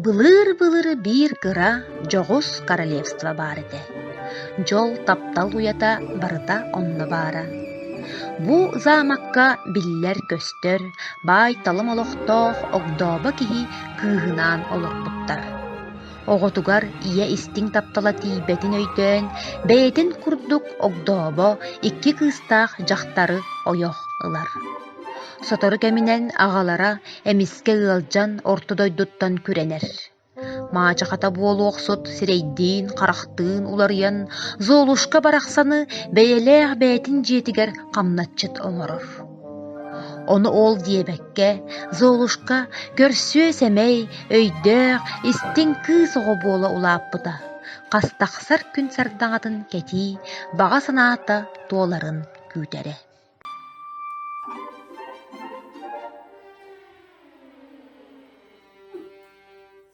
Былыр-былыр биир кыра дьоҕус королевство баар этэ. Дьол, таптал уйата барыта онно баара. Бу заамакка биллэр-көстөр, баай-талым олохтоох огдообо киһи кыыһынаан олорбуттар. Оҕотугар ийэ истиҥ таптала тиийбэтин өйдөөн, бэйэтин курдук огдообо икки кыыстаах дьахтары ойох ылар. Сотору кэминэн аҕалара эмискэ ыалдьан орто дойдуттан күрэнэр. Маачахата буолуох сут сирэйдиин-харахтыын уларыйан, Золушка барахсаны бэйэлээх бэйэтин дьиэтигэр хамначчыт олорор. Ону ол диэбэккэ, Золушка көрсүө сэмэй, өйдөөх, истиҥ кыыс оҕо буола улааппыта, хас тахсар күн сардаҥатын кэтии баҕа санаата туоларын күүтэрэ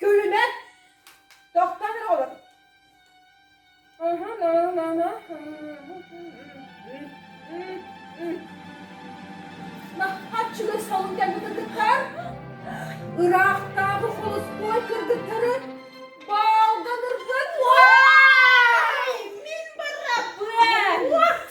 Күлүмэ! Тохтон эрэ олор. Хаччыгы салын кэлбитин кытар, ыраахтааҕы холоскуой кыргыттарын баалданыргын... Мин барабын!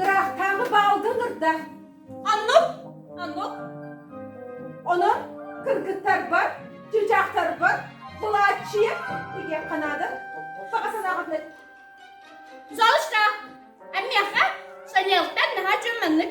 Ыраахтааҕы баалга ыҥырда. Аннук! Аннук! Онон кыргыттарбар, чыычаахтарбар былааччыйа тигиэххэ наада. Саха санааҕытын Залышта, эмиэхэ Саниэлтэн наһаа дьү маннык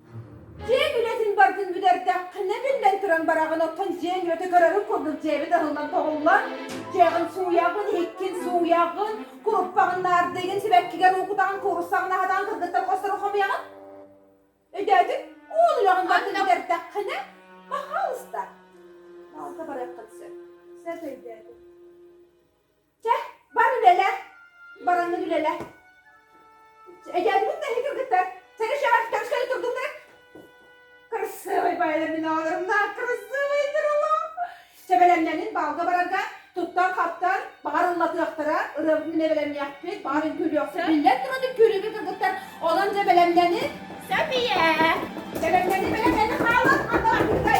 Дьиэм үлэтин барытын бүтэртэххинэ, биллэн туран бараҕын, оттон дьиэҥ өтө көрөрүн курдук дьиэбит аһыллан тоҕуллан, дьиэҕин сууйаҕын, иһиккин сууйаҕын, куруппаҕын наардыйгын, сибэккигэр уукутаҕын кууруссаҕын аһатаҕын, кыргыттар хостору хомуйаҕын. Өйдөөтүҥ? Уолуйаҕын барытын бүтэртэххинэ, баһаалыста. Балта барыаххын сөп. Сөп өйдөөтүм. Чэ, бар үлэлэ. Бараҥҥыт үлэлэ. Эдьээдибит тэһи кыргыттар. Саша, кэпсэли турдуннар. Красивый байлармин оҕолорумна, красивый тұрулу. Сэбэлэмнэнин баалга барарга туттан-хаптан баҕар ыллатыахтара, ырыабытын мине бэлэмниэхпит, баҕар үҥкүүлүөхсүт. Биллэн туран үҥкүүрүгү кыргыттар олон дьэ бэлэмнэни. София! Бэлэмнэни бэлэмнэни хаалан, анна бардыгытай.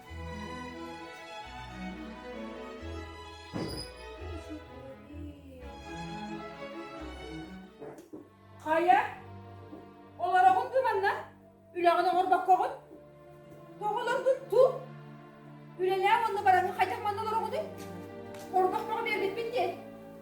Хайа? Олороҕун дуй манна? Үлэҕин оҥорбоккоҕун? Тоҕо олоргун ту? Үлэлээн уонна бараҥҥа хайдах манна олороҕунуй? Ордох бөҕө биэрбиппин дии.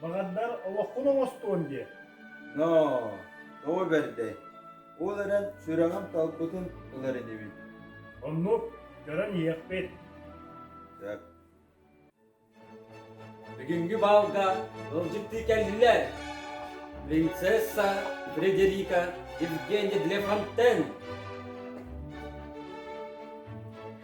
Баҕардар олоххун оҥостуон диэ. Ноо, тоҕо бэрдэй. Ол эрэн сүрэҕим талбытын ылар инибин. Оннук, көрөн иһиэхпит. Сөп. Бүгүҥҥү баалга ыалдьыттыы кэллилэр. Принцесса Фредерика Евгения де Фонтен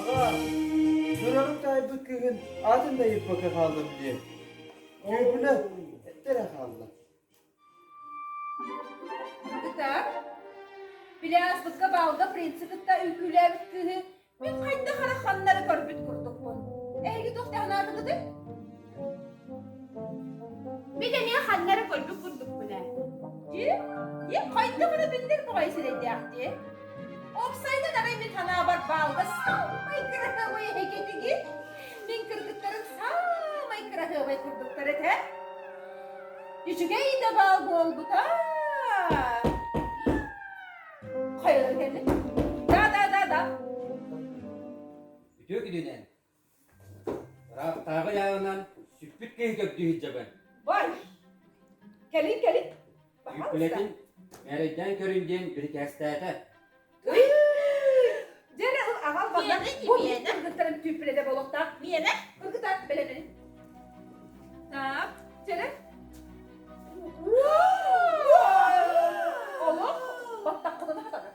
Аҕа, сураҕын таайбыт кыыһын аатын найыппакка хааллым диэн. Күүбүлэ, эттэрэ хаалла. Ытар, били ааспыкка баалга принцы кытта үҥкүүлээбит кыыһы мин хайдах арахханнары көрбүт курдукпун. Эйиги туох даҕанаатыгытый? Мин эмиэ ханна эрэ көрбүт курдукпун ээ. Дьиэ, хайдах эрэ биллэр буҕайы сирэйдээхтиэ. Уопсайынан арай мин санаабар баалта саамай кыраһыабай эһик этиги. Мин кыргыттарым саамай кыраһыабай курдуктар этэ. Үчүгэй да баал буолбута. Хайа да кэллин? Да, да, да, да. Үтүө күнүнэн Ыраахтааҕы айааҕынан сүппүт киһи көрдүү сылдьабын. Бай! Кэлин, кэлин. Бүппүлэтин мээрэйдээн көрүн диэн бирикээстээтэ. Дьэрэ ыл аҕам манна бу миэдэ кыргыттарын түүппүлэтэ болуохтаах. Миэдэ? Кыргыттар бэлэмнэнин. Так, Дьэрэ. Олох баттахпытын хатанар.